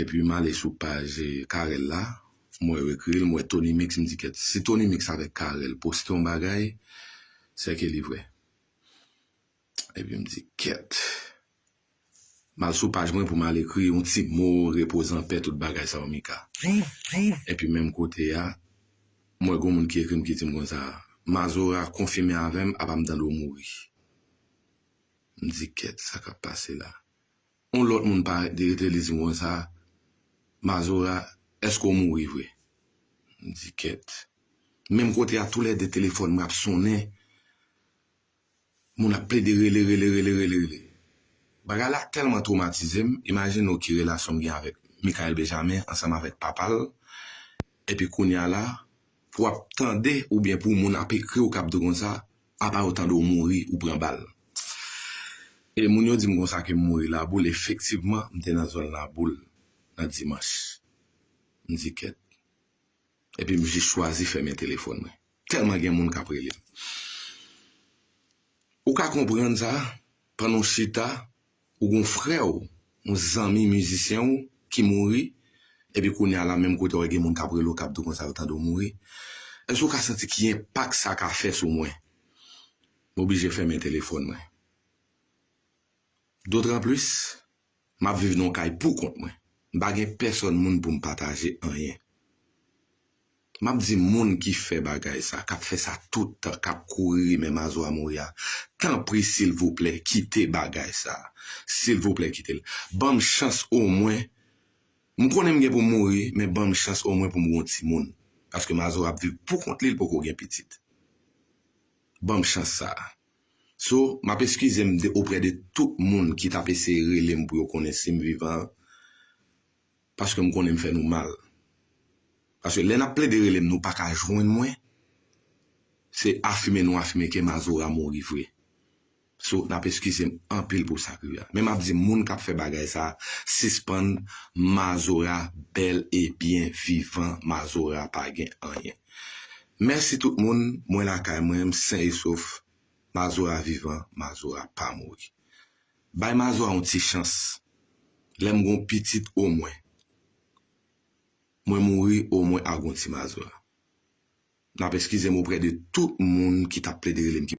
Epi m ale sou paj Carel la, m wè yo ekri l, m wè Tony Mix, m di kèt, si Tony Mix avèk Carel poste yon bagay, sè ke li vrè. Epi m di kèt. M al sou paj mwen pou m al ekri yon ti mo, repoze an pè, tout bagay sa yo Mika. Epi menm kote a, m wè gen yon moun ki ekri m ki di m konsa, Mazora konfime avè m apa m tande w mouri. M di kèt, sa k ap pase la? On lòt moun parèt li rete li di m konsa, Mazora, èske w mouri vre? M di, Kèt. Menm kote a tou lè de telefòn mwen ap sonnen, moun ap plede rele, rele, rele, rele, rele. Bagay la tèlman twomatize m, imajine w ki relasyon m gen avèk Mickaël Benjamin ansanm avèk papa l, epi kounye a la, pou w ap tande oubyen pou moun ap ekri w k ap di w konsa, Apa yo tande w mouri ou pran bal. E moun yo di m konsa ke m mouri Laboul, efektivman m te nan zòn Laboul nan dimanch. M di kèt. Epi m jis chwazi fèmen telefòn mwen. Tèlman gen moun k ap rele m. Ou ka konprann sa, pandan w chita. Ou gon frè w, yon zanmi mizisyen w ki mouri, epi kounye a la menm kote w gen moun k ap rele w k ap di w konsa yo tande w mouri. Èske w ka santi ki enpak sa ka fè sou mwen? M oblije fèmen telefòn mwen. Dotranplis, m ap viv nan yon kay poukont mwen. M pa gen pèsòn moun pou m pataje anyen. M ap di moun ki fè bagay sa, k ap fè sa tout tan, k ap kouri rimen Mazora mouri a, tanpri silvouplè kite bagay sa. Silvouplè kite l. Ban m chans omwen, m konnen m gen pou m mouri, men ban m chans omwen pou m gen yon timoun. Paske Mazora ap viv pou kont li, li poko gen pitit. Ban m chans sa a. So, m ap eskize m de oprè de tout moun ki t ap eseye rele m pou yo konnen si m vivan an. Paske m konnen m fè nou mal. Paske lè n ap plede rele m nou pa ka jwenn mwen, se afime nou afime ke Mazora mouri vre. So n ap eskize m anpil pou sa k rive a. Men m ap di moun k ap fè bagay sa a sispann Mazora bèl e byen vivan Mazora pa gen anyen. Mèsi tout moun, mwen lakay mwen, m sen e sof, Mazora vivan, Mazora pa mouri. Bay mazwa yon ti chans. Lèm gon pitit omwen Mwen mouri omwen a gon ti mazwa. Nap eskizem oprè de tout moun ki tap plede relem ki.